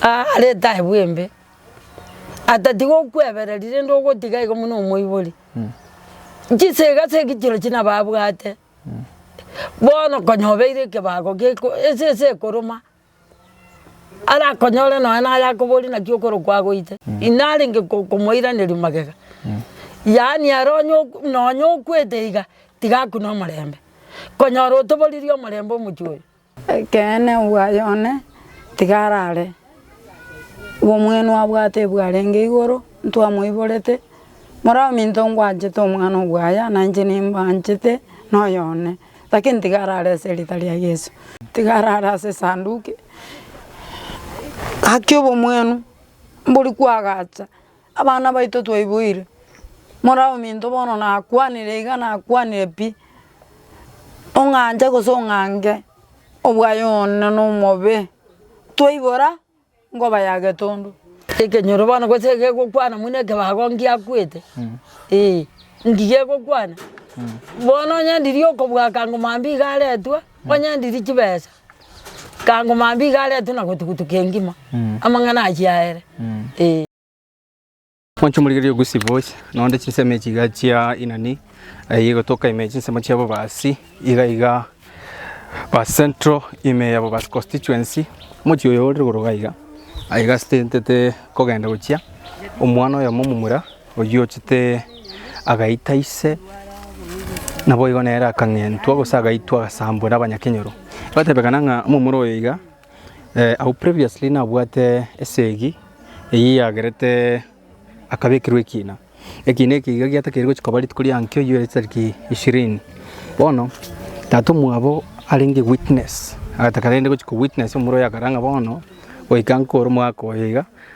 Aa arete aye bwembe, atati gokwebereri rende ogotiga igo buna omoibori. Chisega ase egechiiro china babwate, bono konya obeire ekebago geko ese ese ekoroma, arakonyore nonya naye akoborie naki okoro kwagoite, inarenge ko komoiraneria magega. Yaani ere onye ok nonya okwete iga, tiga akune omorembe, konyora otoboriri omorembe omochie oyo. Ekeene bwaye one tiga arare, obomwenu abwate ebwarenge igoro, ntwamoiborete, moraminto ngwanchete omwana obwaya na inche nimbanchete noyo one, lakini tiga arare ase erita ria Yeso. Tiga arare ase esanduki, gaki obomwenu mbori kwagacha. Abana baito twaiboire, mora ominto bono nakwanire iga nakwanire pi, ong'anche gose ong'ange obwaye one nomobe, twaibora nkoba ya getundu. Ekenyoro bono gose egegokwana buna ekebago ngiakwete eh, ngiya egokwana bono onye ndiri okobwakanga mambia iga aretwe, onye ndiri chibesa. Kango mambia iga aretwe na gotugutuka engima, amang'ana ayio aere, ee. Mwanche morigererie ogosia boys, na onde chinsemo echi iga chia Inani, eyio egotoka ime chinsemo chia Bobasi, iga iga Bobasi Central, ime ya Bobasi Constituency, omochie oyo ore igoro iga iga, aye gastentete kogenda gochia omwana oyomo omomura. Oyio ochete agaita ise, naboigo nere akang'entwa, gose agaitwa agasambwa nabanyakenyoro. Egatebekana ng'a omomura oyo iga au previously nabwate esegi eyio yagerete akabekirwa ekina. Ekina eke iga giatakeire gochia koba rituko ria nkio yio etariki ishirini. Bono tata omwabo arenge witness, agataka rende gochia ko witness omomura oyo akare ng'a bono goika nkore omwaka oyo iga.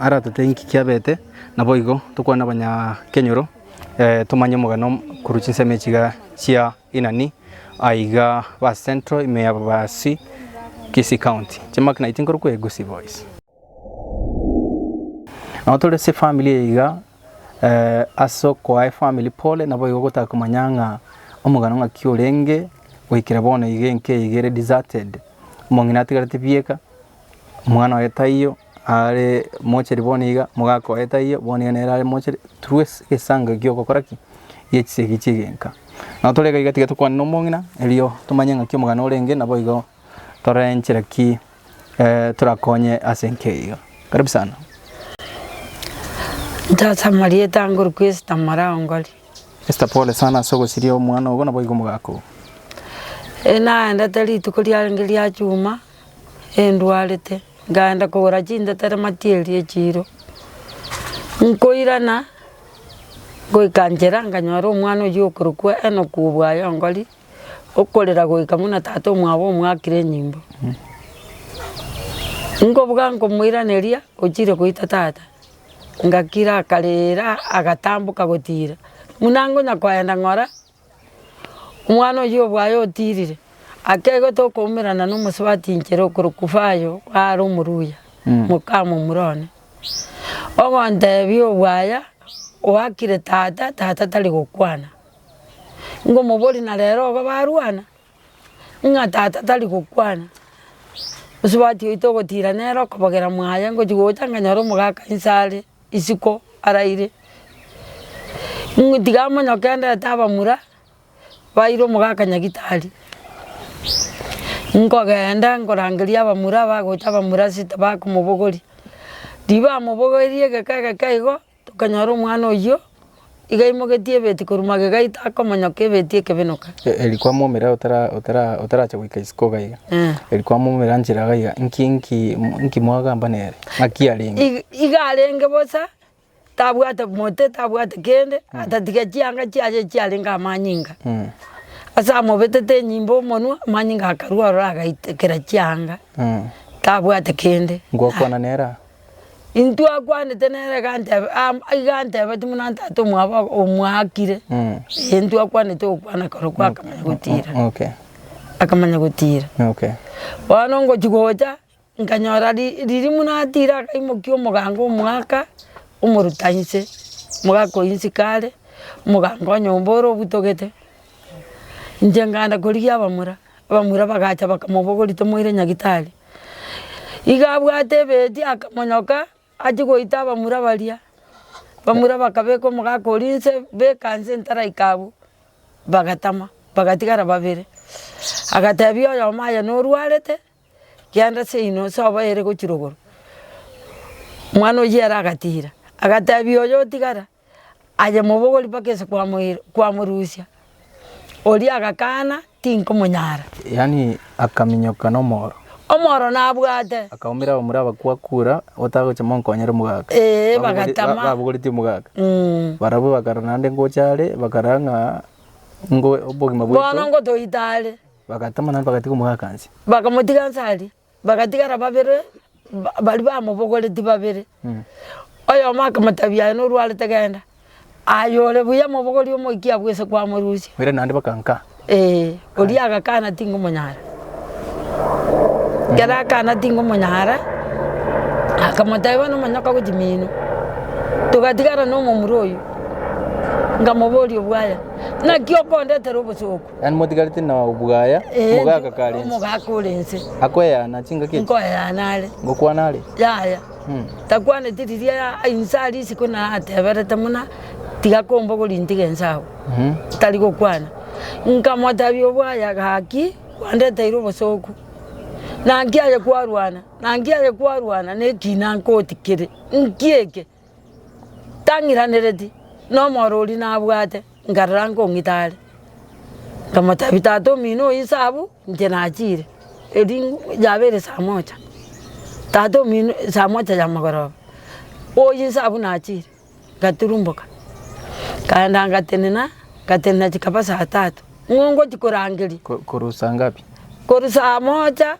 Aratote inki kiabete, naboigo tokwane abanyakenyoro tomanye omogano korwa chinsemo echiga chia Inani aiga ba Central ime ya Babasi, Kisii County. Chimaki naiti nkorokwa Egusi Boys. Nabo tore ase efamily eye iga ase okoa efamily pole naboigo gotaka komanya ng'a omogano ng'aki orenge goikera bono iga enka iga ere deserted, omong'ina atigarete bieka, omwana oye taiyo. Are mocheri bono iga, mogakoe taiyo, bono iga nere are mocheri, through ase egesango ekiya ogokora ki? Gie chisegi chi'egenka. Nabo tore iga iga tiga tokwane nomong'ina, erio tomanye ng'aki omogano orenge, naboigo torore nchera ki torakonye ase enka eye iga. Karibu sana. Tata marieta ange orokwe Esther Maraongori. Esther pole sana ase ogosiria omwana ogo naboigo omogaka ogo. Naendete rituko riarenge ria chuma, endwarete, nkaenda kogora chintetero matieri echiro, nkoirana ngoika nchera nkanyora omwana oyio okorokwa Enock Obwayongori, okorera goika buna tata omwabo omwakire enyimbo. Nkobuga nkomoiraneria ochire goita tata, ngakira akarira agatamboka gotira, buna nkonya koenda ng'ora. Omwana oyio obwaye otiirire, akegete okoumerana nomosubati inchere okorokwa Fayo are omoruya, mokamomura one. Ogonteebia obwaya oakire tata, tata tari gokwana. Ngomoboria na rero igo barwana? Ng'a tata tari gokwana. Mosubati oito ogotiira nere okobogera mwaye ngochi gocha nganyore omogaka inse are. Isiko araire, ng'u tiga amonyokenderete abamura baire omogaka Nyagitari, nkogenda nkorangeria abamura abagocha abamura ase tibakomobogoria, ribamobogoirie egeka egeka igo, tokanyora omwana oyio. igaimogetie ebeti korwa magega aito akomonyoka ebeti ekebenoka. Eri kwamomera otarache goika isiko iga iga, eri kwamomera nchera iga iga, inki mwagamba nere? Ng'aki arenge? Iga arenge bosa, tabwate mote, tabwate kende, atatiga chianga chiaye chiarenge amanyinga. Ase amobetete enyimba omonwa, amanyinga akarwa ororo agaita kera chianga, tabwate kende. Ngwakwana nere aa? Intwe akwanete nere gantebe am iga antebeti buna ntata omwabo omwakire eh intwe akwanete gokwana koro kwakamanya gotira. Okay. Akamanya gotira. Okay. Bono ngochi gocha, nkanyora ri riria buna atira akaimokia omoganga omwaka, omoruta inse, omogaka oyio inse kare, omoganga o nyomba ore obutogete, inche nganda korigia abamura. Abamura bagacha bakamobogoria, Tomoire nyagitari. Igo abwate ebeeti akamonyoka achie goita abamura baria. Abamura bakabeka omogaka oria inse, beka inse entaraika abwo, bagatama, bagatigara babere. Agatebia oyomo aye norwarete, genda seino ase oboere gochirogoro. Omwana oyio ere agatira, agatebia oyo otigara, aye mobogori mpaka ase kwamoire kwamorusia, oria agakana tinkomonyara. Yaani akaminyoka nomoro. Omoro nabwate. Akaumera abamura abakwo akura otagocha monkonyere omogaka. Eeh bagatama. Ba- babogoretie omogaka. Mmh. Barabwo bakara naende ngocha are bakara ng'a ngo obogima bwaito. Bono ngotoita are. Bagatama naende bagatiga omogaka nse. Bakamotiga nse aria. Bagatigara babere baria bamobogoretie babere, oyomo akamoteebia, Aye norwarete genda, aye ore buya mobogorie omoikie abwo ase kwamorusia. Oira naende bakankaa. Ee, oria agakana tingomonyara. Ekero akana tingomonyara, akamoteebia bono omonyoka gochi mino. Togatigara nomomura oyio, ngamoboria obwaya, naki okondetera obosooku? Yaani motigareti na obwaya Ee, mogaka kare ense. omogaka ore ense Akoeana chingaki echi. nkoeana are Gokwana are. yaya Mm. takwaneti riria ya- inse ari isiko narateberete muna tiga kombogori ntige ense agwo Mhm. tari gokwana nkamotebi obwaya gaki kwandeteire obosoku naki aye kwarwana naki aye kwarwana nekina nkotikire nki eke tang'iranereti, na omoro oria nabwate, nkarora nkong'ita are, nkamotebi tata omino oyo inse abwo inche nachiire, erio yaba ere saa mocha, tata omino saa mocha ya mogoroba, oyo inse abwo nachiire, ngaturumboka, nkaenda ngatenena, ngatenena chikaba saa tatu, ng'o ngochia korangeria. Ko- korwa saa ngapi? Korwa saa mocha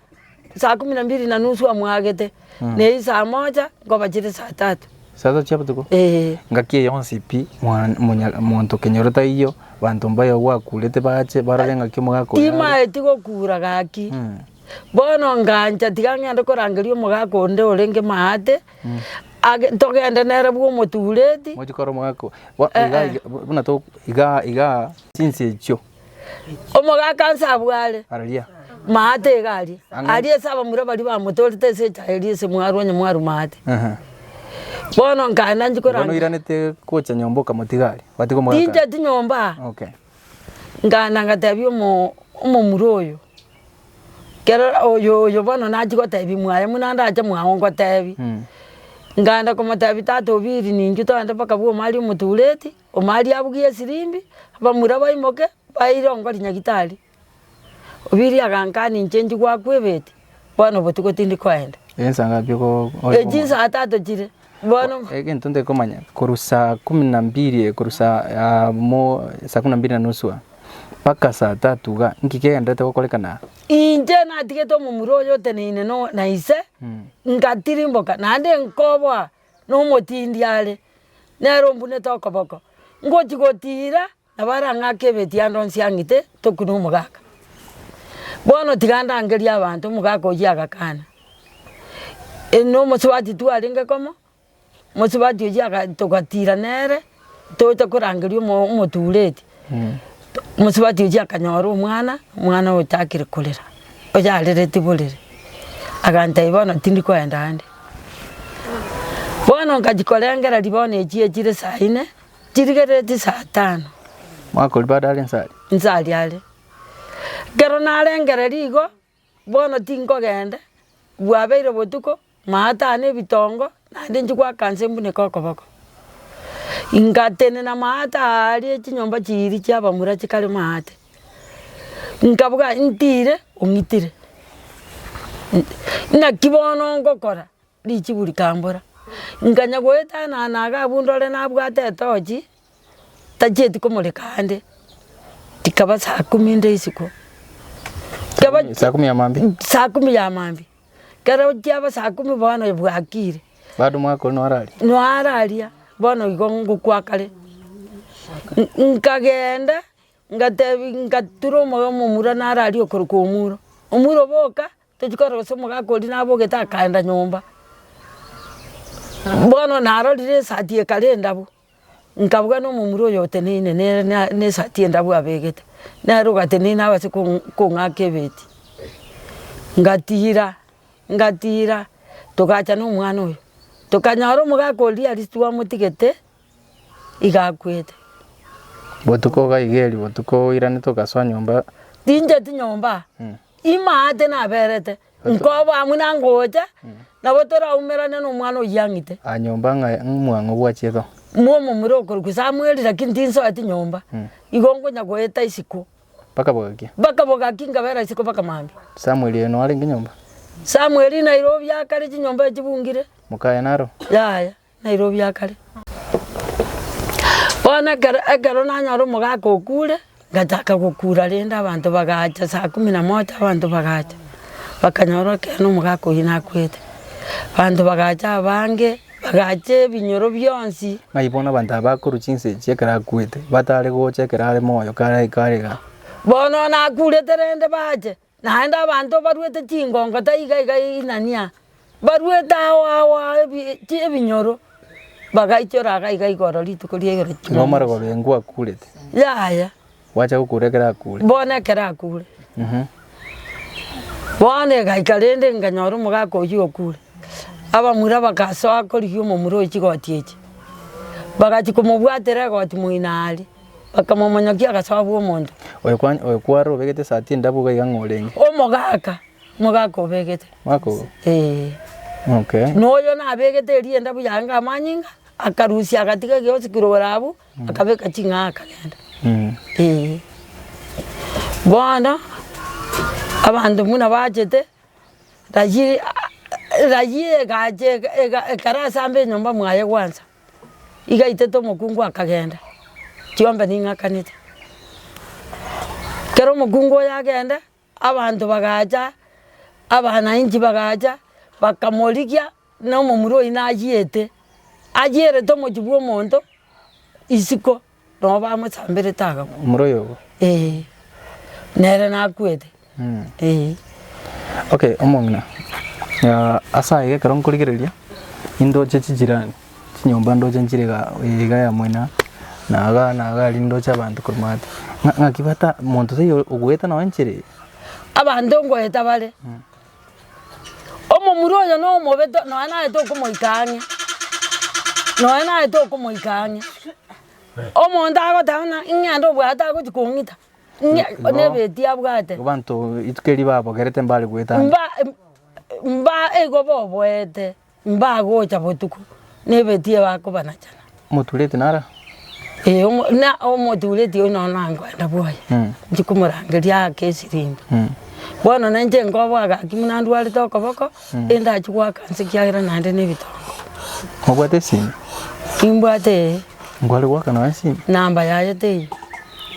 Saa kumi na mbiri na nusu amwagete, na eyio saa mocha nkoba chire saa tatu. Saa tatu chia botuko? Ee. Ngaki eye yonsi pi, mwan, monya, monto kenyoro taiyo, banto mbayo gwakurete bache, barore ngaki omogaka oyo are. Timaeti gokura gaki. Bono ngancha, tiga ng'ende korangeria omogaka onde orenge maate, age, togende nere bwa omotureti. Mochi kora omogaka oyo. Bo, iga, Eh, eh. iga, buna to, iga, iga, chinse echio. Omogaka nse abwo are. Araria. Maate iga aria. Ang'e. Aria ase abamura baria bamotorete ase echaye eria ase mwaru onye mwaru maate. Ehe. Bono nkaenda nchi Igo koranga. noiranete gocha nyomba okamotiga aria. Ogatiga omogaka aria. Tincheti nyomba. Okay. Nkaenda ngatebia omo omomura oyo. Kero oyo oyo bono nachia gotebia mwaye muna ndache mwao ngotebie. Nkaenda komotebia tata obiiri ninchutoende mpaka bwoma aria omotureti. Omariabu Giesirimbi, abamura baimoke, baye irongo rinyagitari. Obiiri agankana, Inche njigwe akwo ebeti, bono botuko tindi koenda. Ensa ngapi oko oye Echi komanya? nsaa tatu chire, bono Egento ntari komanya, korwa saa kumi na mbiri eh, korwa saa ah, mo saa kumi na mbiri na nusu ah, mpaka saa tatu iga, nki kegenderete gokorekana aa? inche natigete omomura oyo oteneine no- na ise, ngatirimboka, naende nkoboa nomotindi are, nere ombunete okoboko, ngochi gotiira nabo arang'ake ebeti ande onsi ang'ite toku nomogaka. Bono tiga ndangerie abanto omogaka oyio agakana, nomosubati twarenge komo, mosubati oyio aga togatiira nere. Tocha korangeria omotureti, mosubati ochia akanyora omwana, omwana ochakire korera, oyarereti borere, agantebia bono tindi koenda ande. Bono nkachia korengera ribaoni echi echire saa ine, chirigerereti saa tano. Mwakoribaga are insa aria? Insa aria are. Ekero narengereria igo, Bono tinkogenda, bwabeire botuko, maatane ebitongo, naende nchigwaka nse mbuneke okoboko. Ngatenena maate aaria chinyomba chiiri chi'abamura chikare maate, nkabuga ntire ong'itire, ng'aki bono ngokora richibu rikambora. Nkanya goetana na agabunde ore nabwate etochi, tachieti komoreka ande, rikaba saa kumi rinde isiko, rikaba Kumi- saa kumi ya maambia. Mm, saa kumi ya maambia, ekero chiaba saa kumi bono ebwakire, Bado omwaka oria nore aria. noararia bono igo ngokwa kare, N- nkagenda ngatebi ngatura omoyo omomura nararie okorokwa omuro, omuro boka tochi korosia omogaka oria nabogete akaenda nyomba, bono narorire esati ekare endabu. Nkabua nomomura oyo oteneine nere nesati endabu abegete, nere ogateneine abase kong'aka ebeti, ngatira ngatira togacha nomwana oyo, tokanyora omogaka oria aria titwamotigete iga akwete. Botuko gaigeri botuko oirane togasoa nyomba. Tincheti nyomba, ime aate naberete. Nkoba amo na ngocha, nabo toraumerane nomwana oyio ang'ite. Aa nyomba ng'a ng'umwang'o bwa chitho. Mwomomura okorokwa Samueli, lakini tinsoeti nyomba, igo nkonya goeta isiko. Mpaka bogaki? Mpaka bogaki nkabera isiko mpaka mambia. Samueli oyo noarenge nyomba? Samueli Nairobi akare chinyomba echibungire. Mokaye naro? Yaya. Nairobi akare. Bono ekero ekero nanyora omogaka okure, ngachaka gokura rende abanto bagacha saa kumi na moja abanto bagacha, bakanyora ekeene omogaka oyio nakwete. Abanto bagacha abange, bagacha ebinyoro bionsi. Ng'ai bono abanto aba bakorwa chinsa echi ekero akwete, batare gocha ekero are moyo kare kare igaa? Bono nakurete rende bache, Naende abanto baruete chingongo taiga iga inania, baruete ao ao ao ebi chi ebinyoro, bagaichora iga iga igoro rituko ria igoro Igo Jumamosi. omare kobengwa akurete. Yaya, Gwacha gokura ekero akure. bono ekero akure. Mhm. Bono egaika rende nkanyora omogaka oyio okure, abamura bagasoa korigia omomura oyo chigoti echi, bagachia komobwatera egoti moino are. Bakamomonyokia, agasoa agwo omonto. Oyo kware obegete esati endabu iga iga ng'a orenge. Omogaka, omogaka obegete. Omogaka ogo? Ee. Okay. Na oyo nabegete eria endabu yaye ng'a amanyinga, akarusia agatiga egeosi kirogoro abwo, akabeka ching'aa akagenda. Ee. Bono, abanto buna bachete, rayiri rayiri egache ekero ase amba enyomba mwaye gwansa. Igaitete omokungu akagenda, chiombe ning'akanete. Kero omokungu oyo agende, abanto bagacha, abanainchi bagacha, bakamorigia nomomura oyio nayiete, ayierete omochie bwomonto isiko. Noo bamosamberete akamwa. Omura oyogo. Ee. Nere nakwete. Ee. Okay, omong'ina, ase ayio ekero nkorigereria, indoche chijirani, chinyomba ndoche nchire iga iga ya moino na iga na iga aria ndoche abanto korwa maate. Ng'a ng'aki bata monto taiyo ogoeta nonye nchire eye? Abanto ngoeta bare. Omomura oyo nomobe to nonya naye tokomoika ang'e, nonya naye tokomoika ang'e. Omonto agoteba ng'a ing'ende obwate agochi kong'ita, ng'e No- no- nebetia abwate. Abanto rituko eri babogerete mbare goeta ande. Mba- mba igo boboete. Mbagocha botuko, na ebetie bakobanachana. Omotureti nara? Ee, omo- na omotureti oyio nonya nangwenda bwoye, Mm. nchi komorangeria aake esiringi. Mm. Bono na inche nkoboa gaki buna ndwarete okoboko, endachi goaka nse ekiagera naende na ebitongo. Mobwate esimi? Imbwate ee, Nkware goaka nonya esimi? namba yaye teiyo.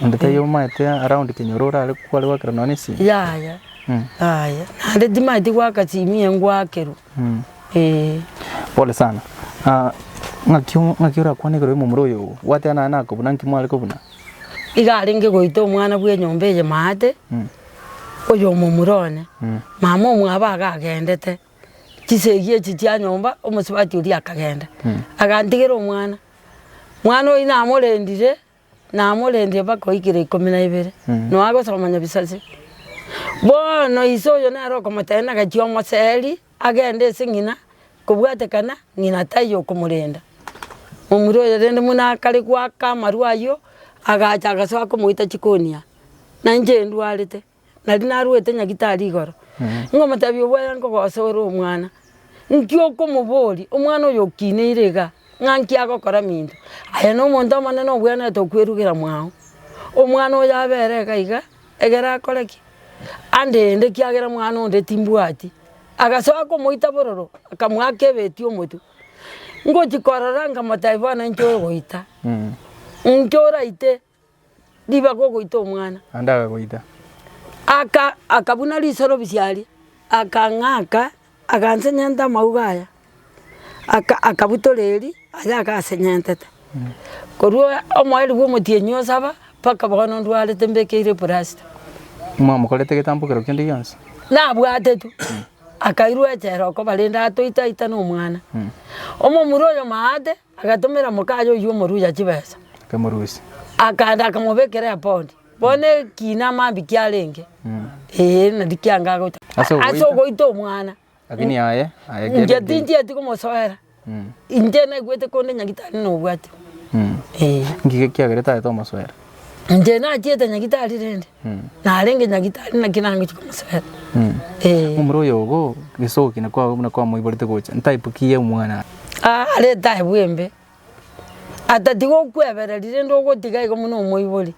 Onde taiyo omaete around kenyoro orare kware goakera nonya esimi? Yaya, Mm. yaya. Naende timaeti goaka simi engwakerwe. Pole sana. Ng'aki ng'aki orakwanegere omomura oyo oo? Gwateba naye nakobuna nki mware kobuna? Iga arenge goita omwana bw'enyomba eye maate, oyo omomura one, mama omwabo agagendete, chisegi echi chia nyomba, omosubati oria akagenda, agantigera omwana. Mwana oyio namorendire. Namorendie mpaka oikire ikomi na ibere, nonya agosoma nyabisase. Bono ise oyo nere okomotebia nagachie omoseri agende ase ng'ina, kobwatekana ng'ina taiyo okomorenda. Momura oyo rende buna akare goaka amarwa ayio, agacha agasoa komoita chikonia, nainche ndwarete. naria narwete nyagitari igoro, ngomotebia obwega nkogosa ore omwana, nki okomoboria omwana oyo okineire iga, ng'a nki agokora minto. Aye na omonto omonene obwenerete okwerugera mwago, omwana oyo abe ere iga iga, egere akore ki? Andende ekiagera mwana onde timbwati. Agasoka komoita bororo, akamoaka ebeti omotwe. Ngochi korora nkamotebia bono inche ogoita, inche oraite ribaga ogoita omwana. Naende akagoita. Aka akabuna riiso robisia aria, akang'aka, agansenyenta amauga aya, aka akabutora eri aye agasenyentete. Korwa omoerio bwa omotienyi osaba, mpaka bono ndwarete mbekeire plasta. Mwamokorete egetambokero kende gionsi? Nabwate tu, akairwa echela okoba rende atoita aita na omwana. Omomura oyo maate. Agatomera mokaye oyio omoruya chibesa. Akamorusia. Akaenda akamobekera epondi. Bono ekiina amambia kiarenge, ee, nari kianga agoita. Ase ogoita. Ase ogoita omwana. Lakini aye, aye kere. Inche tinchieti komosoera. Inche naigwete konde nyagitari nobwatire. Ee. Ng'iki ekiagera etagete omosoera? Inche nachiete nyagitari rende, narenge nyagitari naki nangochia komosibera. Ee. Omoro oyogo gesoki na kwa na kwa moiborete gocha type ki ye mwana. Aa are etaibu embe, atati gokwebereri rende ogotiga igo buna omoibori.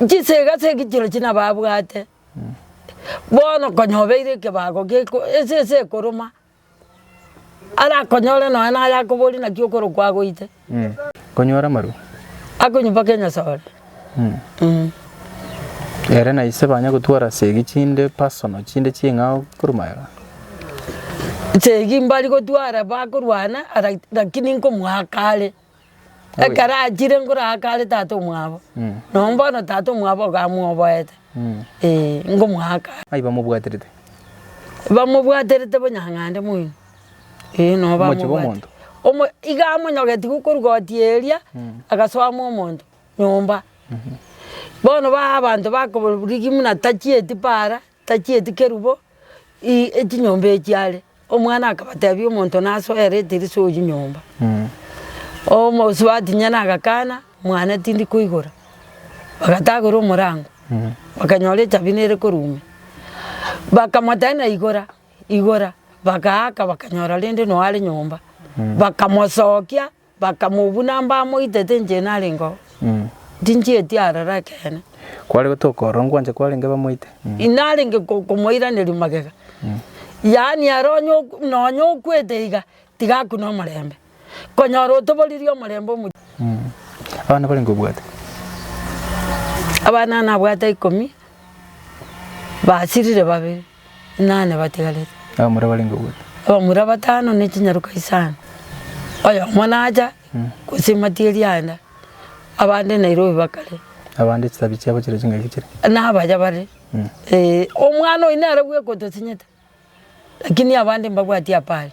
Chisega se egichiro chire nababwate, bono konya obeire ekebago geko ese ese ekoroma. Arakonyore nonya naye akoborie naki okorokwa agoite. Konyora amarwa. Akonywa mpaka enyasore. Ere na ise banya gotwara segi chinde personal chinde ching'ao korwa magega. Segi mbari gotwara bakorwana lakini nkomoaka are. Ekero achire ngoraake are tata omwabo, noo mbono tata omwabo iga amwoboete, ee, ngomoaka are. Ai bamobwaterete. Bamobwaterete bonyang'ande moino, ee, noo bamobwaterete. Omochie bw'omonto. Omo iga amonyogeti gokorugoti eria, agasoama omonto nyomba. Bono ba abanto bakorigimuna tachieti paara. Tachieti kerubo, i, echinyomba echi are. Omwana akabatebia, Omonto nasoe ere etirisa oyio nyomba. Omosubati nyene agakana, Mwane tindi koigora. Bagatagora omorango, bakanyora echabi nere korumia. Bakamotebia na igora, igora, bagaaka bakanyora rende noare nyomba. Bakamosokia, Bakamobuna mbamoitete inche narengeo, tinchieti aroro ekeene. Kware gotoka ororo ngwancha kwarenge bamoite. Inarenge komoiraneria magega. Yaani ere onye nonya okwete iga, tiga akune omorembe. Konyora otoboririe omorembe omo. Abana barenge obwate? Abana nabwate ikomi, basirire babere. inane batigarete. Abamura barenge gotano. Abamura batano ne chinyaroka isano. Oyomo nacha, gose matiga erianda, abande Nairobi bakare. Abande chitabi chiabo chire chingaki chire? Nabacha bare, ee, omwana oyo nere bwekotosinyete, lakini abande mbabwati apare,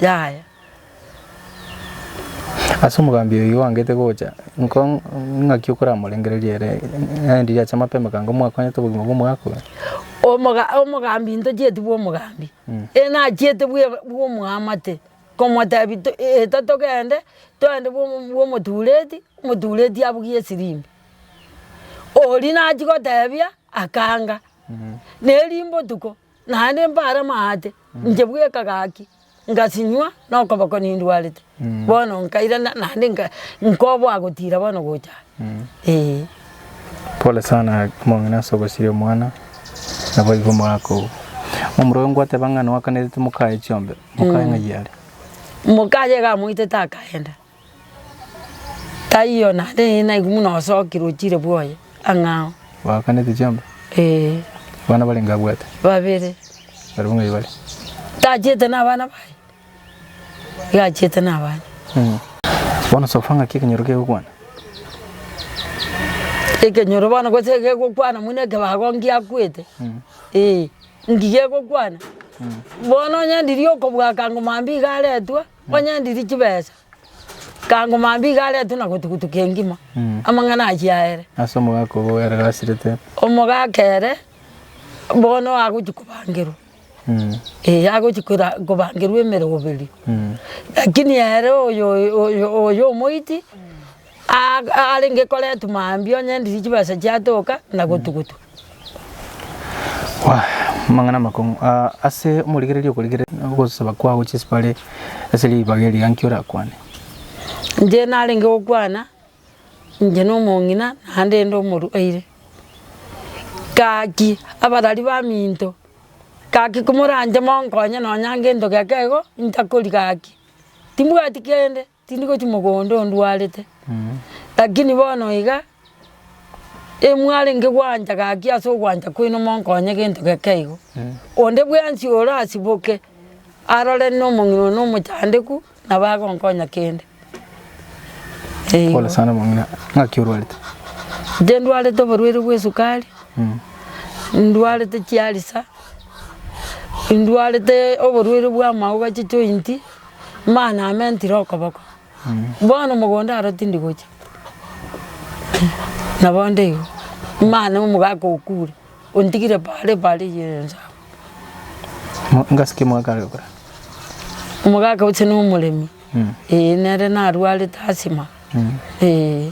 yaya. Ase omogambi oyio oangete gocha, ing'aki okoramorengereria ere? Naende riacha amapema ekanga, Omwakonyete obogima bw'omoakure? Omogambi intochieti bw'omogambi, ere nachiete bw'omoamate, komotebia eta togende, twende bw'omotureti, omotureti abugie esirimbwi. Oria nachia gotebia akanga. Neri mbotuko, Naende mbare amaate, inche bweka gaki, ngasinywa na okoboko nindwarete, bono nkairana naende nka nkoboa gotira bono gocha aa eeh. Pole sana omong'ina ase ogosiria omwana, naboigo omogaka oo. Omorwoti oye ngwateba ng'a noakanerete moka aye chiombe, moka aye ng'ai are? Moka aye iga amoitete akaenda. Taiyo naende eye naigwe buna osoki rochire bwoye ang'ao. Bagakanete chiamba? Ee. Abana barenge abwate? Babere. Barabwo ng'ai bare? Tachete na abana baye? Iga achete na abana. Bono sofa ng'aki ekenyoro kegokwana? Ekenyoro bono gose egegokwana buna ekebago ngiakwete? Ee. Nki gegokwana? Bono onye ndiria okobua akango mambia iga aretwa? Onye ndiri chibesa, nkaangwa mambia iga aretwe na gotugutuka engima, amang'ana ayio aere. Ase omogaka obo ere gasirete. Omogaka ere bono agochia kobangerwa, eh, agochia kora kobangerwa emeroberio. Lakini ere oyo oyo oyo omoiti. Aa arenge koretwa mambia onye endirie chibesa chiatoka na gotugutwa. Amang'ana amakong'u aa ase omorigereria okorigereria na ogosaba kwao gochia bare ase ribaga erio gaki orakwane. Inche narenge gokwana inche na omong'ina naende inde omorwaire. Gaki abarari baminto gaki komoranche monkonye nonya ngento geke igo intakori gaki timbwati kende. Tindi gochia mogondo ondwarete, lakini bono iga, emwarenge gwancha gaki ase ogwancha kwaino monkonye gento geke igo. Onde bwensi orasiboke arore na omong'ina one omochandeku nabo agonkonya kende. Eeh. Pole sana omong'ina, ng'aki orwarete? Inche ndwarete oborwaire bwa esukari, ndwarete chialisa, ndwarete oborwaire bwa amauga, chichointi. Mama namentire okoboko, bono omogondo aro tindi gocha. Na bonde igo, mama na omogaka okure, ontigire bare bare yerensa abwo. Mo- Ngasi ki omogaka are okore? Omogaka oche na omoremi, eh, nere narwarete asthma, eh.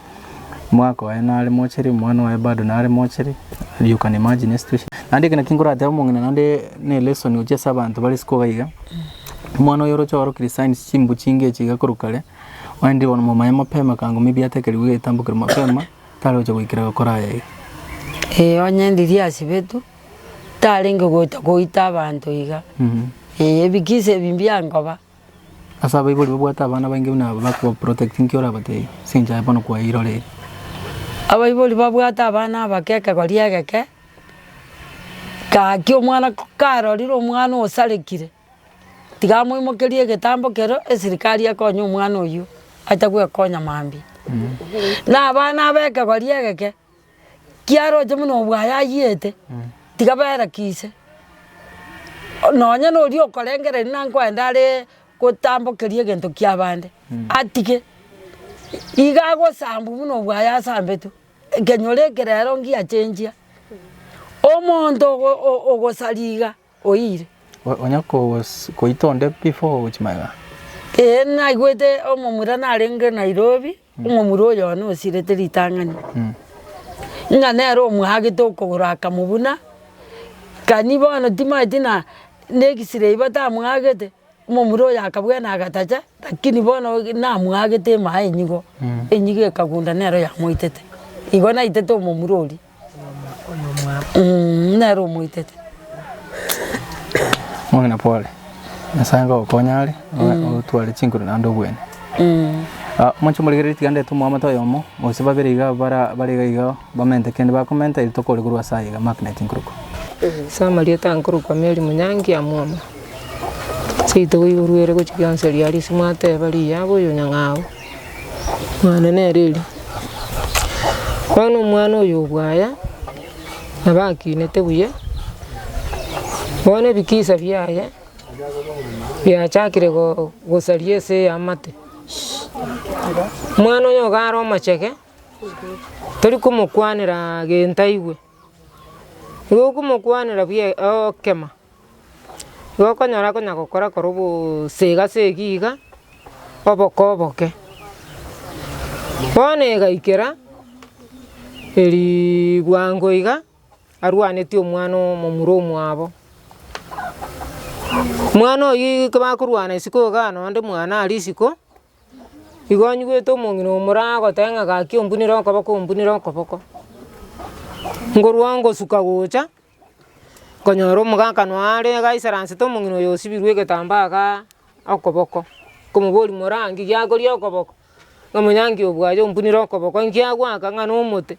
Mwaka oye nare mochere, omwana oye bado nare mochere, you can imagine a situation. Naende ekero naki nkorateba omong'ina naende ne lesson gochia ase abanto bare isiko iga iga, omwana oye oroche orokire signs chimbu chinge echi iga korwa kare, oende bono momanye mapema ka ngomibiate ekerigu iga etambokire mapema, tare gocha goikera gokora aya iga. Ee onye ndiria asibetwe, tarenge gocha koita abanto iga, ee ebikisa ebi mbiankoba. Ase abaibori babwate abana abainge buna aba bakobaprotect nki orabatebie ase engencho aye bono kwairorire? Abaibori babwate abana aba kekegori egeke, gaki omwana karorire omwana osarekire, tiga amoimokerie egetambo kero esirikari ekonye omwana oyio atagwekonya mambia. Na abana aba ekegori egeke, kiaroche buna obwayayiete, tiga berekise, nonya noria okorengereria nankwende aree gotambokeria egento kia bande, atige, iga agosambwa buna obwayasambetwe, ekenyoro eke rero ngiachengia, omonto ogo- o- ogosari iga. oire. Onya koita onde before ogochia magega? Ee, naigwete omomura narenge Nairobi, omomura oyone osirete ritang'ani, ng'a nere omwagete okogoro akamobuna, kani bono timaeti na, na X-ray batamwagete. Omomura oye akabua na agatacha, lakini bono namoagete emaye enyigo, enyigo ekagunda nero yamoitete. Igo naitete omomura oria mm nero omoitete. Omong'ina pole, Nyasaye ngogokonye are, otware chinkoro naende obwene. Moche morigererie tiga ndete omwamate oyomo, gose babere iga bara bare iga iga bamente kende bakomenta eri tokore korwa ase aye iga magnet nkorokwa. Ase amarieta nkorokwa Mary Munyangi Amwoma. Gose togoiboruere gochia gionsi riria ase mwateba riya bono oyo nyang'au, mwane nere eri. Bono omwana oyo obwaya, nabo akinete buya, bono ebikisa biaye biachakire go- gosaria ase amate. Omwana oyo nigo are omochege, tori komokwanera gento aigwe, nigo okomokwanera buya ogokema. Igo okonyora konya gokora korwa obosega segi iga, oboke oboke. Bono egaikera riibuango iga arwanetie omwana omomura omwabo. Mwana oyio ekero bakorwana isiko igaa nonde mwana aria isiko, igo onyigwete omong'ina omoro agoteba ng'a gaki ombunere okoboko ombunere okoboko. Ngorwa ngosuka gocha. Nkonyora omogakano aare egaisaranset omong'ina oyo osibirwe egetambaa ga okoboko, nkomoboria more aa nki giakoria okoboko? Ng'a monyangi obwaye ompunire okoboko nki agoaka ng'a nomote.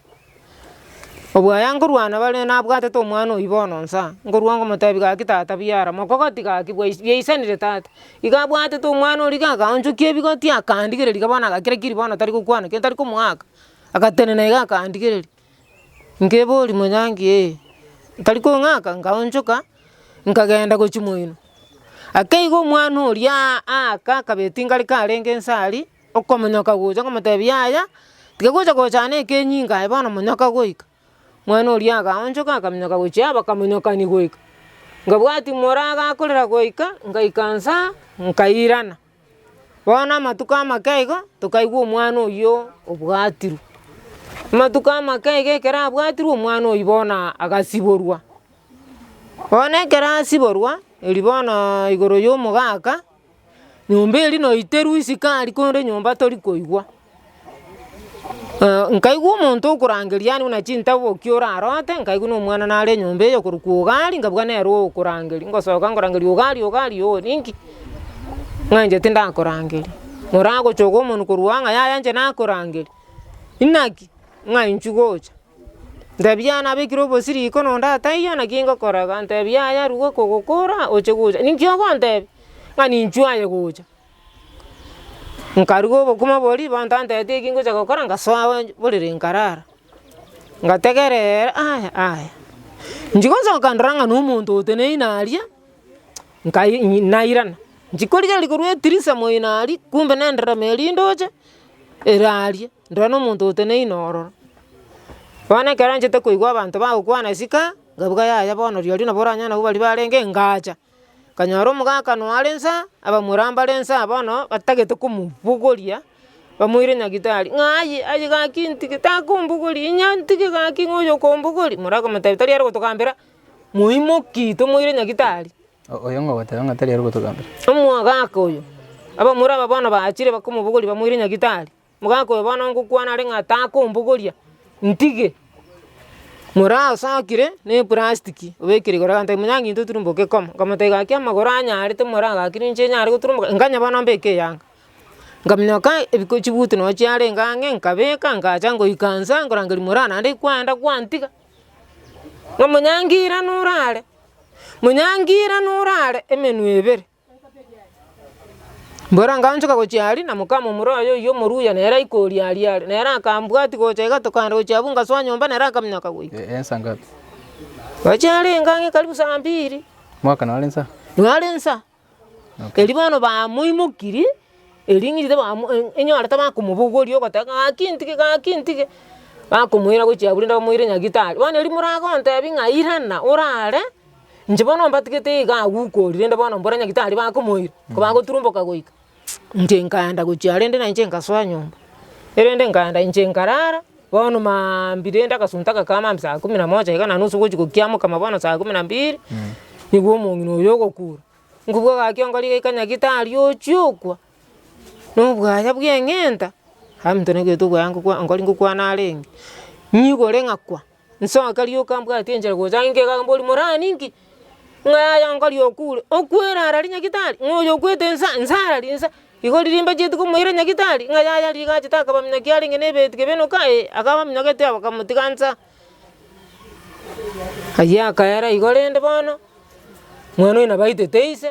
Obwaya nkorwana bare nabwatete omwana oyio bono nsa, nkorwa ngomotebi gaki tata buya ara mokogoti gaki bwais bwaisanire tata. Iga abwatete omwana oria iga akaonchokia ebigoti akandigereria iga bono agakira kiri bono tari gokwana kende tari komoaka, agatenena iga akandigereria. Nkeboria Munyangi, Ee. Ntari kong'aka, nkaonchoka, nkagenda gochia moino. Akeiga omwana oria aaka akabeti ngare karenge nse aria, okomonyoka gocha, okomotebia yaya, tiga gocha gochana ekenyinga aye bono monyoka goika. Mwana oria akaonchoka akaminyoka gochia aa bakamonyokani goika. Nkabwati moragakorera goika, ngaikansa, nkairana. Bono amatuko amake igo tokaigwa omwana oyio obwatirwe. Amatuko amake iga ekero abwatirwe omwana oyio bono agasiborwa. Bono ekero asiborwa erio bono igoro ya omogaka nyomba eria noiterwe sukari korende nyomba torikoigwa. Nkaigwa omonto okorangeria aane buna chintabu bokia orarote, nkaigwa nomwana nare enyomba eye okorokwa Ogari, nkabua nere okorangeria, ngosoka nkorangeria Ogari, Ogari oo ninki? Ng'a inche tindakorangeria, moragochoka omonwe korwa ang'e, yaya inche nakorangeria, inaki? Ng'a inchwe gocha, ntebi yaya nabekire obosiri iko nonda taiyo naki ngokora iga, ntebi yaya ruga okogokora oche gocha, ninki ogontebia? Ng'a ninchwe aye gocha, Nkaruga obokima bo ribaanto anteete eki ngochia gokora ngasoa abwo borere nkarara. Ngategera ere aya aya, nchi gosoka ndora ng'a nomonto oteneine aria, nkai nyi nairana, nchi korigereria korwa etirisa moino aria, kumbe na enderemo ya rindoche ere aria, ndora nomonto oteneine ororo. Bono ekero nchete koigwa abanto bagokwana esika, ngabuga yaya bono rirorio nabo oranyare nabo baria barenge, ngacha. Akanyora omogakano are inse, abamura mbare inse aa bono batagete komobogoria, bamoire nyagetari ng'a aye aye gaki ntige takombogoria, inye ntige gaki ng'a oyo okombogoria. Mora akamotebia tari are gotogambera, moimoki tomoire nyagetari. Oyo ng'a ogoteba ng'a tari are gotogambera. Omogaka oyo, abamura aba bono bachire bakomobogoria bamoire nyagetari. Mogakoe bono ngokwana are ng'a takombogoria, ntige. Morasakire na eprastiki obekire igoro agantebia, munyaga intwe turumboke koma. Nkamotebia gaki amagoro anyarete more agaki ninche nyare goturumboka, nkanye bono mbeke eyanga. Nkamenya kai ebiko chibuti nonya chiarenge ang'e nkabeka ngacha ngoika inse nkorangeria morana naende kwenda kwantiga. Ng'a munyangira norare, munyangira norare emenwe ebere. Mbwera nkaanchoka gochia aria, na mokama omorua oye oyio omoruya nere aika oria aria are. Nere akambwati gocha iga tokaenda gochia abwo ngasoa nyomba nere akaminyoka goika. Gochia aria engang'e karibu saa mbiri, nare nsa. Erio bono bamoimokirie, erio ng'irire bamo e- enyorete bakomobogoria ogoteba gaki ntige gaki ntige, bakomoira gochia abwo rende bamoire nyagitari. Bono erio moragontebia ng'a irana orare. Inche bono mbatigete iga agwo ukorire rende bono mbore nyagitari bakomoira, kobagoturumboka goika, inche nkaenda gochia rende na inche nkasoa nyomba. Erende nkaenda inche nkarara, bono maambia rende agasunta gakama maambia saa kumi na moja iga na nusu gochia gokiamoka ma bono saa kumi na mbili, nigwo omong'ina oyo ogokura. Ngokwa gaki ongori goika nyagitari ochie okwa, nobwaya bw'eng'enta, abaminto nabaito okwaya ngokwa ongori ngokwana arenge, nyigore ng'akwa. Inse akarioka mbwati enchera gocha inke iga mbori morara ninki? Ng'a yaya nkari okure, okwere arari nyagitari, ng'a oyo okwete inse inse arari inse. Igo riria mbacheti komoira nyagitari, ng'a yaya riria gachete akaba muna ki arenge nebeti kebe enoka ee, akaba minyogete aa bakamotiga inse aa. Ayio akaera igo rende bono, mwana oyo nabo aitete ise.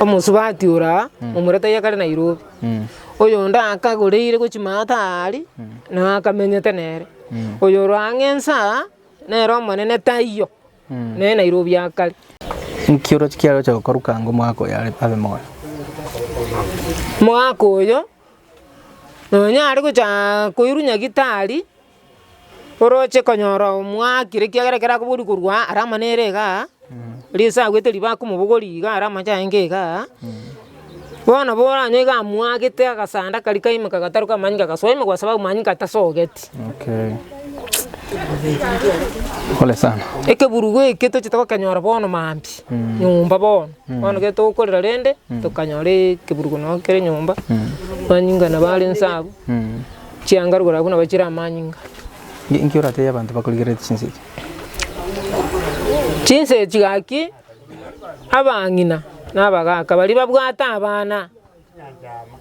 Omosubati oraa, omura taiyo kare Nairobi, oyonde akagoreire gochia maate aria, nao akamenyete nere. Oyo oro ang'e ense aa, nere omonene taiyo, nere Nairobi aa kare. Nki oroche kiaroche gokora kanga omogaka oyo are abe moyo? Mogaka oyo, nonya are gochaaa koirwa nyagitari. Oroche konyora omwakire, ekiagera ekero akoboria korwa aa ara amane ere igaa, risa agwete riba akomobogori iga ara amache aenge igaa, bono nabo oranyore iga amwagete agasanda karia kaimoka gataruka amanyinga agasoa ime gwasabe amanyinga atasogeti. Pole sana. Ekeburugo eke tochete kokenyora bono maambia, nyomba bono, bono ekero tokorera rende, tokanyora ekeburugo noo kere nyomba, amanyinga nabo are inse abwo. Chiangaru korabwo nabo chire amanyinga. Inki orateebie abanto bakorigererete chinsa echi? Chinsa echi gaki abang'ina na abagaaka baria babwate abana,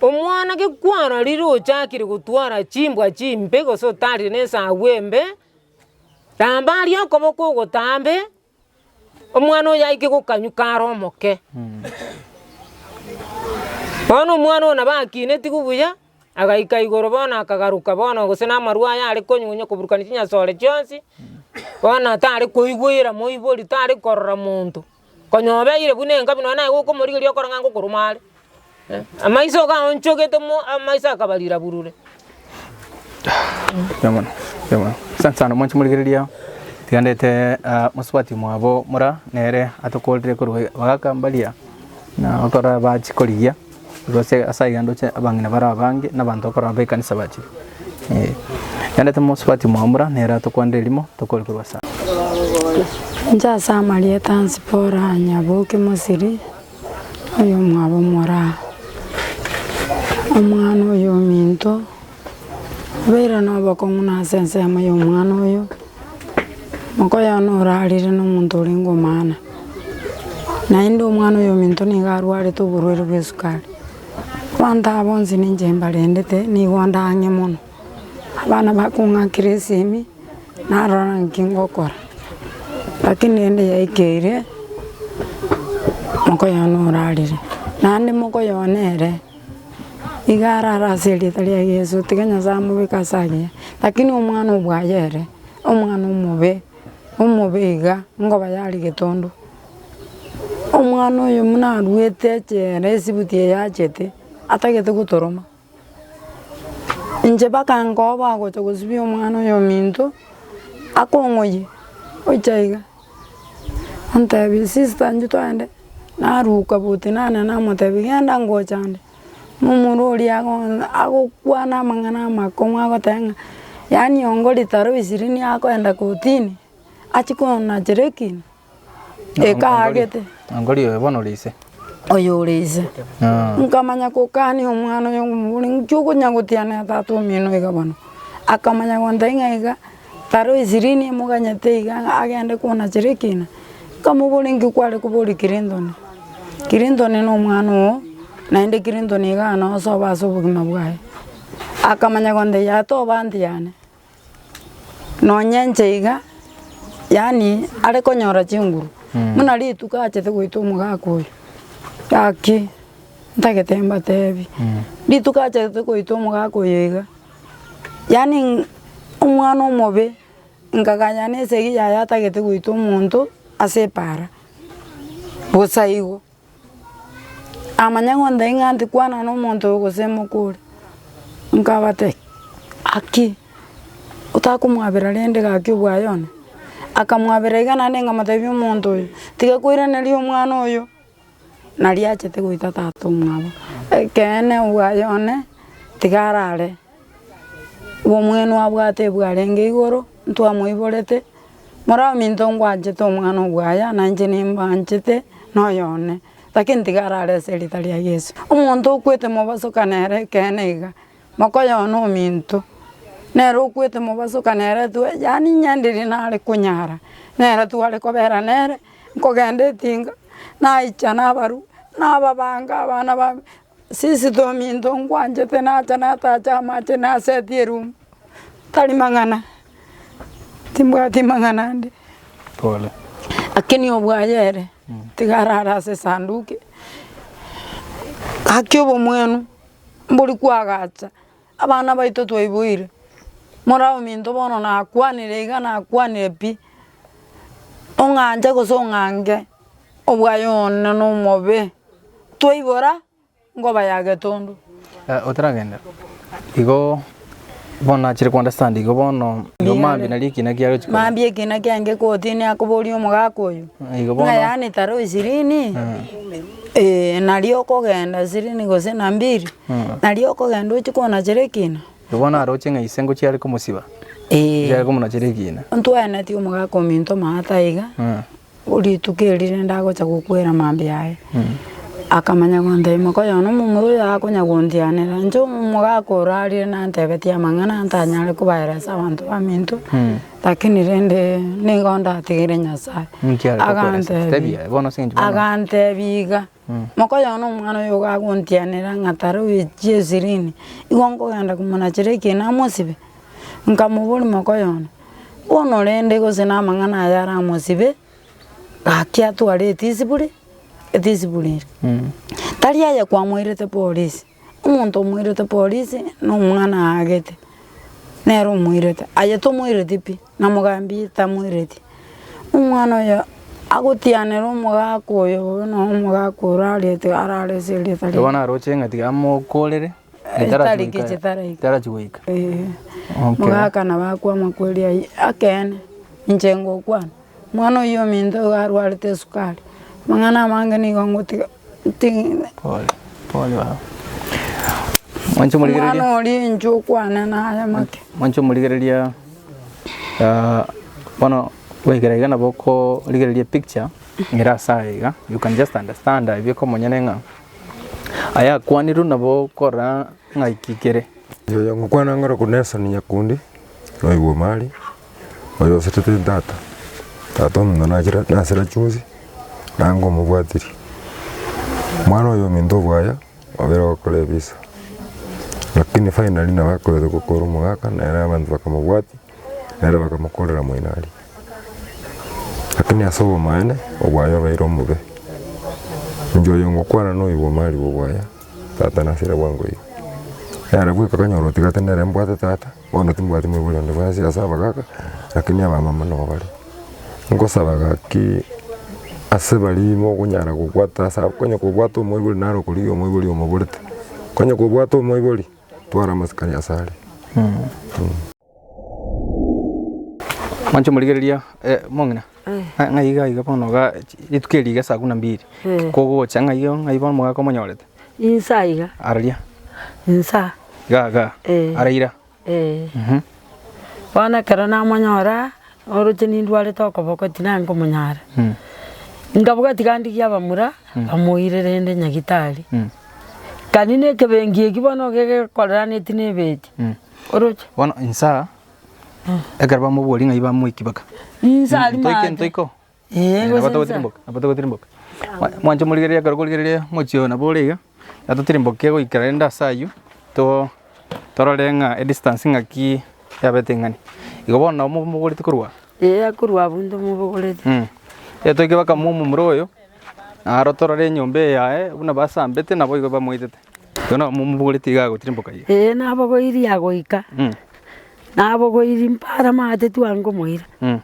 omwana gekwarorire ochakire gotwara chimbwa chimbe gose otarire na esagu embe, ramba aria okoboko ogotambe, Omwana oyo aike gokanyuka are omoke. Bono omwana oyo nabo akinetiwe buya, agaika igoro bono akagaruka bono gose namarwa aya are konywonya koburukania chinyasore chionsi, bono tare koigwera moibori, tare korora monto, konya obeire buna engabi nonye naye gokomorigeria okore ng'a ngokoruma are. Amaiso okaonchogete mo amaiso akaba riraburure. Mbuya mono, mbuya mono. Asante sana mwanche morigereria ao. Tiga ndete ah, mosubati omwabo mora nere atokorire korwa bagaka mbaria na bakora ba chikorigia korwa ase ase aiga ndoche abang'ina bare abange na abanto bakora be kanisa bache. Eh, tiga ndete mosubati omwabo mora nere atokwanere erimo tokore korwa ase Inche ase amarieta Zipora Nyaboki Mosiri. Oyomwabo omoraa, Omwana oyo ominto, obeire nobokong'u nase ensemo y'omwana oyo, mokoyo one orarire nomonto orenge omana, naende omwana oyo ominto nigo arwarete oborwaire bw'esukari, abanto aba bonsi ninche mbarendete, nigo ndang'e mono. Abana bakong'akire esimi, narora ng'a nki ngokora, rakini rende yaikeire, moka oyono orarire, naende moka oyo one ere, iga arare ase erieta ria Yeso, tiga Nyasaye amobeke ase agiya, rakini omwana obwaye ere, omwana omobe, omobe iga, nkoba yari getondo, omwana oyo buna aruete echeere, esibuti eye yachete, atagete gotoroma. Inche mpaka nkoba agocha gosibia omwana oyominto akong'oyie gocha iga, antebie sister inche twende, naruka boti nane namotebia genda ngocha ande, na omoro oria agocha agokwana amang'ana amakong'u agoteba ng'a yaani ongo ritaro ishirini akoenda kotini achie konachere ekina. Ekaagete. Angori oyo bono ore ise. Oyo ore ise. Nkamanya kokania omwana oyo ngomobore, inki okonya gotianera tata omino iga bono? Akamanya gontebia ng'a iga taro eshirini emoganyete iga ng'a agende konachera ekina. Nkamobora inki kware koboria Clinton? Clinton na omwana oo, naende Clinton iga nosoba ase obogima bwaye. Akamanya gontebia toba antiyi yane. Nonya inche iga, yaani are konyora chinguru, buna rituko achete goita omogaka oyo, gaki ntagete mbatebi, rituko achete goita omogaka oyo iga, yaani omwana omobe, nkaganya na esegi yaye atagete goita omonto ase epaara, bosa igo. amanye ng'onta ing'a tikwana nomonto oyo gose moka ore, nkabate gaki otakomwabera rende gaki obwaye one, akamwabera iga naende nkamotebi omonto oyo tiga koiraneri omwana oyo nari achete goita tata omwabo, ekeene obwaye one tiga arare. Obomwenu abwate bwarenge igoro, ntwamoiborete, Moraminto ngwanchete omwana obwaya, na inche nimbanchete noyo one, lakini tiga arare ase erieta ria Yeso. Omonto okwete mobaso kanere ekeene iga, mokoyona ominto, nere okwete mobaso kanere twe yaani nyenderia nare konyara, nere tware kobera nere, nkogenda etinga, naicha nabarwa, nababanga abana babe. Sisito ominto ngwanchete nacha natache amache naseti erumu tari mang'ana timbwati mang'ana ande pole lakini obwaye ere tiga arare ase esanduki gaki obomwenu mbori kwagacha. Abana baito twaiboire, mora ominto bono nakwanire iga nakwanire pi, ong'anche gose ong'ange obwaye one nomobe, twaibora nkoba ya getundu. Otaragenda igo bono nachire kounderstand igo bono igo maambia nari ekina kiaye ochi koba. Maambia ekina kiaye ngekotinia akoboria omogaka oyo, Igo bono. ng'a yaani taro ishirini? Ee, nario okogenda sirini gose na mbiri, nario okogenda ochia konachera ekina. Aya bono aroche ng'a ise ngochia are komosiba, Ee, ngochia are komonachera ekina. ntwenetie omogaka ominto omanyete aiga, Mm. rituko eri rende agocha gokwera mambia aye. Akamanya gontebia mokoyo one omomura oyo akonya gontianera, inche omogaka orarire nantebetie amang'ana ntanyare kobaeresa abanto baminto. Lakini rende nigo ndatigire Nyasae, agantebia agantebia iga, mokoyona omwana oyo iga agontienera ng'a tare oyo chie eshirini, igo nkogenda komonachera ekina amosibe, nkamoboria mokoyona, bono rende gose na amang'ana aya aramosibe, gaki atware etisiburi, etisiburi eri, tari aye kwamoirete polisi. Omonto omoirete polisi na omwana aagete nere omoirete aye tomoireti pi na mogambi tamoireti. Omwana oyo agotianera omogaka oyo buna omogaka orarete arare ase erieta riaye. Bono aroche eng'ati amokorere Etari gechi taraika. etarachi goika. Eeh. Okay. Omogaka nabo akwama kweria aye akeene inche ngokwana. Omwana oyio ominto igo arwarete esukari, amang'ana amange nigo ngotiga ntigigwe. Pole pole baba. Mwanche omorigereria. Omwana oria inche okwane naye make. Mwanche omorigereria ah, bono goikera iga nabo okorigereria epicture ere ase aya iga, you can just understand aye bika omonyene ng'a aya akwanirwe nabo okorora ng'a ki kere. Oyo ngokwana ng'oroku Nelson Nyakundi, naoigwa Omari. Oyo osetete n'Tata, Tata omonto nachire nasira chionsi, nango omobwatirie. Omwana oyo ominto obwaya, obere gokora ebisa. Rakini finally nabo akoete gokora omogaka, nere abanto bakamobwatia, nere bakamokorera moino aria. Rakini ase obomaene, obwaya obeire omobe. Inche oyo ngokwana noyo bw'omo aria bw'obwaya, Tata nasira bwango iga. Nere bweka kanyora otigate nere mbwate Tata. Bono timbwati moibori onde bwensi ase abagaaka, lakini abamama nabo bare. Nkosaba gaki ase baria mokonyara gobwata ase abwo, onye kobwate omoibori naro okorigia omoibori omoborete, onye kobwate omoibori twara amasikani ase are. Mwanche omorigereria mo ng'ina ng'ai iga iga bono iga rituko eri iga saa kumi na mbiri kogocha ng'ai iga ng'ai bono omogaka omonyorete. Inse aiga. Araria. Inse aa. Iga iga. Eh. Araira. Eh. Mhm. Bono ekero namonyora aa, oroche nindwarete okoboko tinari komonyara. Mm. Nkabuga tiga ndigie abamura bamoire rende nyagitari. Mm. Kani ne ekebengi eki bono iga gekoraneti ne ebeti. Mm. Oroche. Bono inse aa, ekero bamoboria ng'ai bamoiki baka. Inse ari Ntoike maate. ntoiko. Ee, nabo togotirimboka, nabo togotirimboka. Mwa- Mwanche morigereria ekero korigereria omochie oyo nabo ore iga, iga totirimboke goikera rende ase aywo, to- torore ng'a edistance ng'aki yabete ing'ani. Igo bono nabo momogoreti korwa aa? Ee akorwa abwo inde omobogoreti. Mh, etoike baka momura oyo, naro torore enyomba eye yaye buna basambete naboigo bamoitete. Igo nabo momobogoreti iga agochire mboka eye. Ee nabogoiri yagoika, Mm. nabogoiri mpare amaate twange omoira, Mm.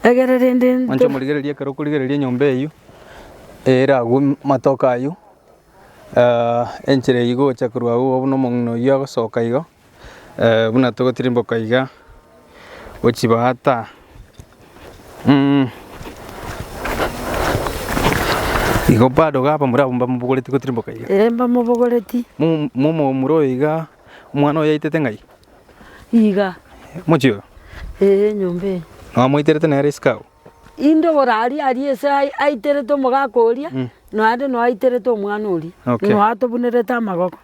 egere rende Mwanche nto- omorigererie ekero okorigereria enyomba eyio, ere agwo m- matoke ayio enchera eyio igo ogocha korwa agwo buna omong'ina oyio agosoka igo. buna togotirimboka iga gochibwata igo bado iga abamura abwo mbamobogoreti gotirimboka iga. Ee mbamobogoreti. Mo- momomura oyo iga omwana oyo yaitete ng'ai? Iga. Mochie oyo? Ee enyomba eye. Na omoiterete nere isiko agwo? Inde oraaria aria ase aye aiterete omogaka oria, naende noo aiterete omwana oria. Okay. Noo atobunerete amagoko.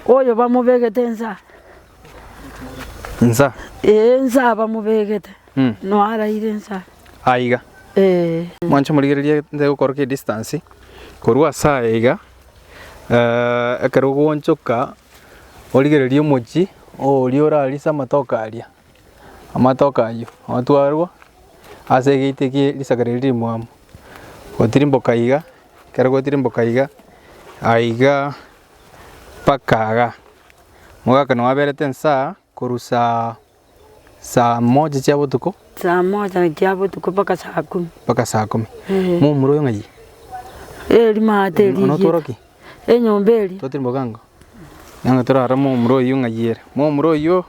Oyo bamobegete ensa. Nsa. Ee, ensa bamobegete. Mm. No araire ensa. Aiga. Ee. Mwanche morigererie nde gokoroka distance korwa asa aiga eh, ekero ogonchoka origererie omochi oria orarise amatoke aria amatoke ayio atwarwa ase egate gie risakari riria rimwabo gotirimboka iga ekero gwatirimboka iga, aiga mpaka iga, omogaka nonya aberete esaa korwa saa saa moja chia botuko Saa moja chia botuko mpaka saa kumi. mpaka saa kumi. Eh. Momura oyo ng'ai? Eh rimaa teri Ono otworo ki? Enyomba eri. Twatirimboka ango? Nang'o torarore momura oyio ng'ai ere? Momura oyio,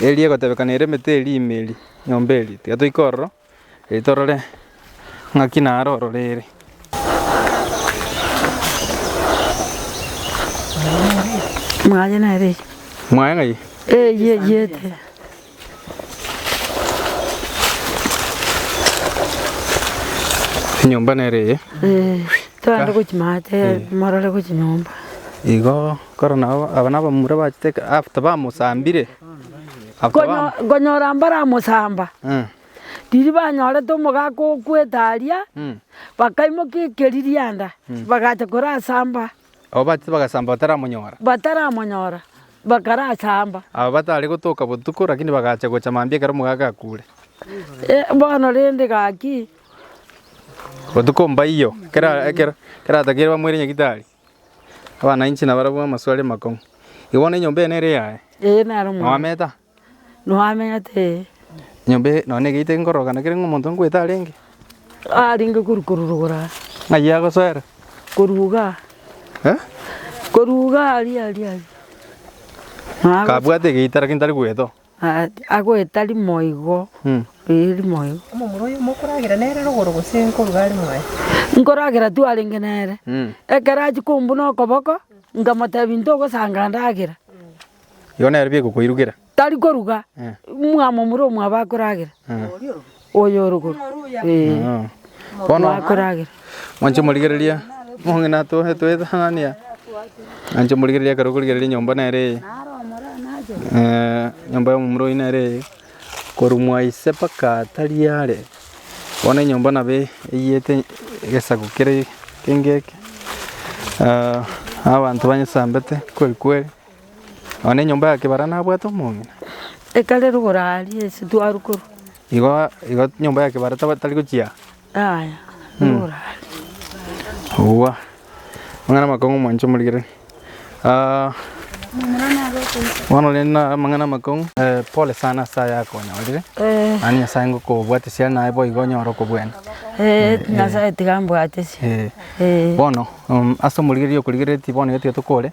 eria egotebekana ere emete eria ime eria, nyomba eria. Tiga toike ororo, Ee, torore ng'aki naro ororeere. Mwaye nere eye. Mwaye ng'ai? Eye eyete. Enyomba nere eye. Eh, Twende gochi maate morore gochi nyomba. Igo koro nabo aba nabamura bachete after bamosambire. Nkonyora mbaramosamba, riria banyorete omogaka o kwetaria, bakaimoka ekeririanda, bagacha korasamba. Abo bachete bagasamba bataramonyora. Bataramonyora, bakarasamba. Aba batare gotoka botuko, lakini bagacha gocha mambia ekero omogaka akure. Bono rende gaki. Botuko mbaiyo, kera ekero, kera atakeire bamoire nyagitari. Abana inche nabarabwo amaswali amakong'u. Igo bono enyomba eye nere eyaye? Ee nare omwabo. Noameta? Noamete ee. Enyomba eye nonya niga itebi nkororoka naki rende omonto nkoete arenge? Arenge korwa korurugora aa. Ng'ai agosoera? Korwa iga aa. Eh? Korwa iga aa aria aria aria. Noa gocha. Kabwate egeita lakini tari goeta oo. Agoeta rimo igo, ee, rimo igo. Omomura oyo mokoragera nere rogoro gose nkoruga are moyo? Nkoragera twarenge nere. Ekero achia kombuna okoboko, nkamotebia ntogosanga ndagera. Igo nere bigokoirugera. Tari koruga, mwamomura omwabo akoragera. Oyo oruguru. Ee. Bono Mwakoragera. mwanche morigereria mong'ina atwo etwetang'ania mwanche morigereria ekero okorigereria nyomba nere eye eh, nyomba ya omomura oyio nere eye korwa mwaise mpaka tari are bono enyomba nabo e- eyete egesaku kere kengeke ah, abanto banyesambete kweri kweri. Nonya enyomba ya kebara nabwate omong'ina. Ekare rogoro aaria ase twarwa korwa. Igo igo nyomba ya kebara taba tari gochia. Yaya rogoro aaria. Owa. Amang'ana amakong'u mwancha omorigereri. Ah, bono rende na amang'ana amakong'u. Eh, pole sana ase aya akonyorire. Eh. Yaani Nyasaye ngokobwatia siya naye boigo onyore okobwena. Eh, Nyasaye tiga ambwate siya. Eh. Eh. Bono, um, ase omorigereria okorigereretie bono iga tiga tokore.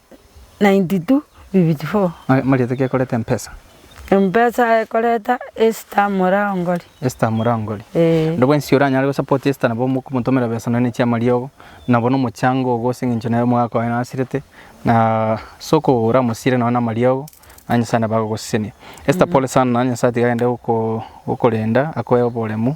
92 bibiti 4. Marieta ki ekoreta empesa? Empesa ekoreta Esther Murangori. Esther Murangori. Ee. Nabo ensi oranyare gosapoti Esther nabo mokomotomera besa nonya ne chiama riogo, nabo na omochango ogo ase eng'encho nere omogaka oye nasirete na soko oramosire nonya na amariogo na Nyasaye nabo agogosesenia. Esther pole sana Nyasaye tiga agende gokorenda akoe oboremu.